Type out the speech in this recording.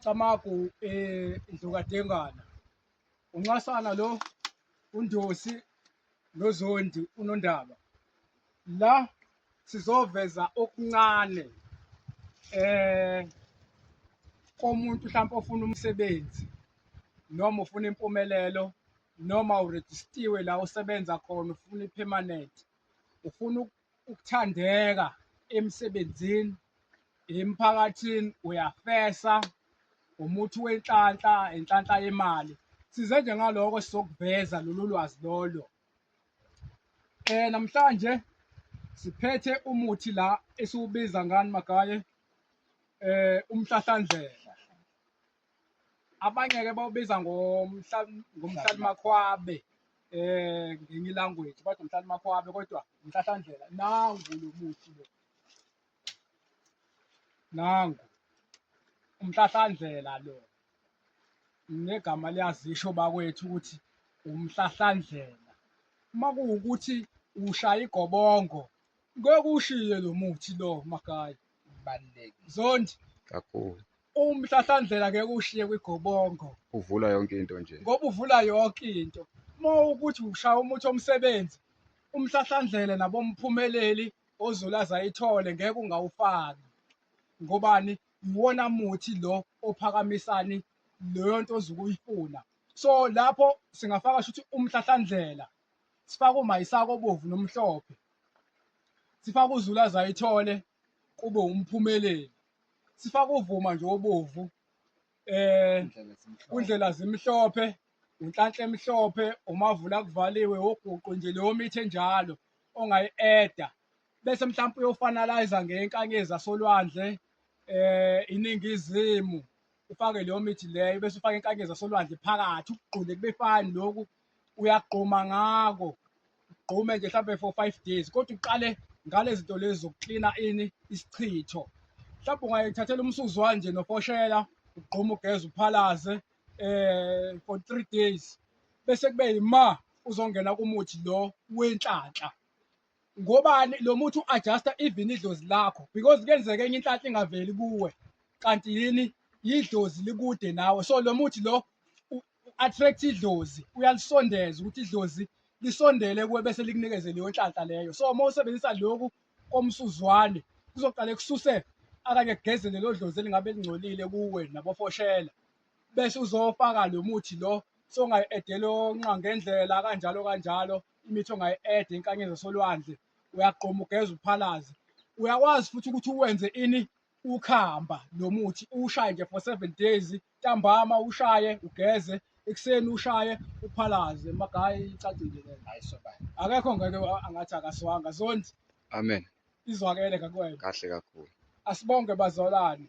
Camagu eh Ndlukadengana unxasana lo uNdosi noZondi unondaba la sizoveza okuncane eh komuntu mhlawumbe ofuna umsebenzi noma ufuna impumelelo noma urejistiwe la usebenza khona ufuna ipermanent ufuna ukuthandeka emsebenzini emphakathini uyafesa umuthi wenhlanhla inhlanhla yemali size nje ngaloko sizokuveza lolu lwazi lolo eh namhlanje siphethe umuthi la esiwubiza ngani magaye eh umhlahlandlela abanye ke bawubiza ngomhlalimakhwabe eh ngenye ilanguage bathi umhlalimakhwabe kodwa umhlahlandlela nangu lo muthi lo nangu umhlahlandlela lo negama liyazisho bakwethu ukuthi umhlahlandlela uma kuwukuthi ushaya igobongo ngeke ushiye lo muthi lo makaya balulekile zondi kakhulu umhlahlandlela ngeke ushiye kwigobongo uvula yonke into nje ngoba uvula yonke into uma ukuthi ushaya umuthi omsebenzi umhlahlandlela nabomphumeleli ozolaza ayithole ngeke ungawufaki ngobani iwona muthi lo ophakamisani leyo nto ozukuyifuna so lapho singafaka shuthi umhlahlandlela sifaka umayisako obovu nomhlophe sifaka uzulaza ayithole kube umphumeleli sifaka uvuma nje obovu eh undlela zimhlophe unhlanhle emhlophe umavula kuvaliwe woguqu nje leyo mithi enjalo ongayi-eda bese mhlawumpe uyofanalayiza ngenkanyezi asolwandle eh iningizimu ufake leyo mithi leyo bese ufake inkanyezi asolwandle phakathi ukugqule kube fani lokhu uyagquma ngako ugqume nje mhlawumbe for five days kodwa uqale ngale zinto lezi zokuklina ini isichitho mhlawumbe ungayithathela umsuzwane nje nofoshela ugquma ugeze uphalaze um for three days bese kube yima uzongena kumuthi lo wenhlanhla Ngobani lo muthi u-adjusta even idlozi lakho because kuyenzeka enye inhlanhla ingaveli kuwe kanti yini yidlozi likude nawe so lo muthi lo u-attract idlozi uyalisondeza ukuthi idlozi lisondele kuwe bese likunikeze leyo nhlanhla leyo so uma usebenzisa loku komsuzwane kuzoqale kususe akanye kugeze lelo dlozi elingabe lingcolile kuwe nabofoshela bese uzofaka lo muthi lo songayi-edela onqa ngendlela kanjalo kanjalo imithi ongayi-eda enkanyeni zasolwandle uyagqoma ugeza uphalaze uyakwazi futhi ukuthi uwenze ini ukhamba lo muthi uwushaye nje for seven days ntambama ushaye ugeze ekuseni ushaye uphalaze magayi icacile le hayi sobani akekho ngeke angathi akaswanga zondi amen izwakele kakuwena kahle kakhulu asibonge bazalwane